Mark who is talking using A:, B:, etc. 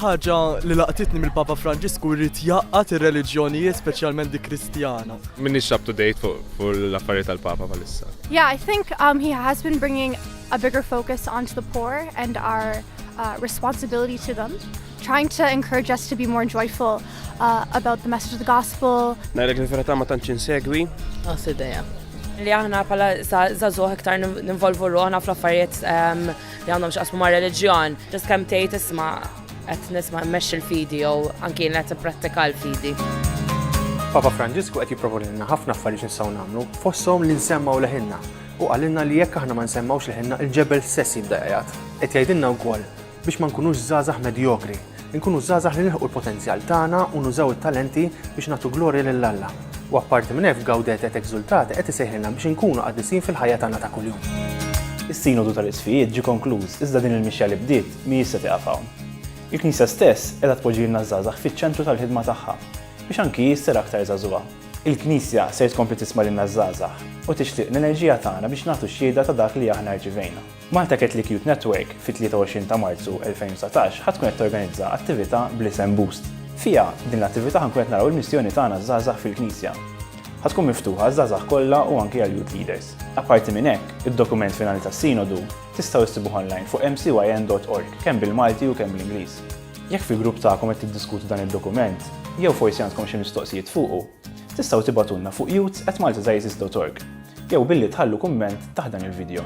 A: ħaġa li laqtitni mill-Papa Franġisku jrid jaqqat ir-reliġjonijiet speċjalment dik Kristjana. Minix up to date fuq l-affarijiet tal-Papa bħalissa. Yeah, I think um, he has been bringing a bigger focus onto the poor and our uh, responsibility to them, trying to encourage us to be more joyful uh, about the message of the gospel. Najlek li ferata ma tantx insegwi. Għas ideja. Li aħna pala zazuħ iktar ninvolvu ruħna fl-affarijiet ehm, li għandhom xaqsmu ma' religjon. Ġas kem tejt isma' għet nisma' mesh il-fidi jew anki għet prattika l-fidi. Papa Franġisku qed jipproponilna ħafna affarijiet nistgħu nagħmlu, fosthom li nsemmaw leħinna u għalinna li jekk aħna ma nsemmawx leħinna il-ġebel stess jibda jgħid. Qed jgħidilna wkoll biex ma nkunux żgħażagħ medjokri, inkunu żgħażagħ li nilħqu l-potenzjal tagħna u nużaw it-talenti biex nagħtu glorja lil Alla. U apparti minn hekk f'Gaudete et Exultate qed isejħilna biex inkunu qaddisin fil-ħajja tagħna ta' kuljum. Is-Sinodu tal-Isqfijiet ġie konkluż iżda din il-mixja li bdiet m'hijiex se tieqaf hawn. Il-Knisja stess qiegħda tpoġġilna ż-żgħażagħ fiċ-ċentru tal-ħidma tagħha biex anki hi ssir aktar żagħżugħa. Il-Knisja ser tkompli tisma' lilna ż-żgħażagħ u tixtieq l-enerġija tagħna biex nagħtu xhieda ta' dak li aħna rċivejna. Malta Catholic Youth Network fit-23 ta' Marzu 2019 ħa tkun qed torganizza attività bl-isem Boost. Fiha, din l-attività ħa nkun qed naraw il-missjoni tagħna ż-żgħażagħ fil-Knisja. Ħa tkun miftuħa għaż-żgħażagħ kollha u anki għall-youth leaders. Apparti minn hekk, id-dokument finali tas-Sinodu tistgħu issibuh online fuq mcyn.org kemm bil-Malti u kemm bl-Ingliż. Jekk fil-grupp tagħkom qed tiddiskutu dan id-dokument, jew forsi għandkom xi mistoqsijiet fuqu, Tistgħu tibgħatulna fuq youths@maltadieces.org jew billi tħallu kumment taħt dan il-video.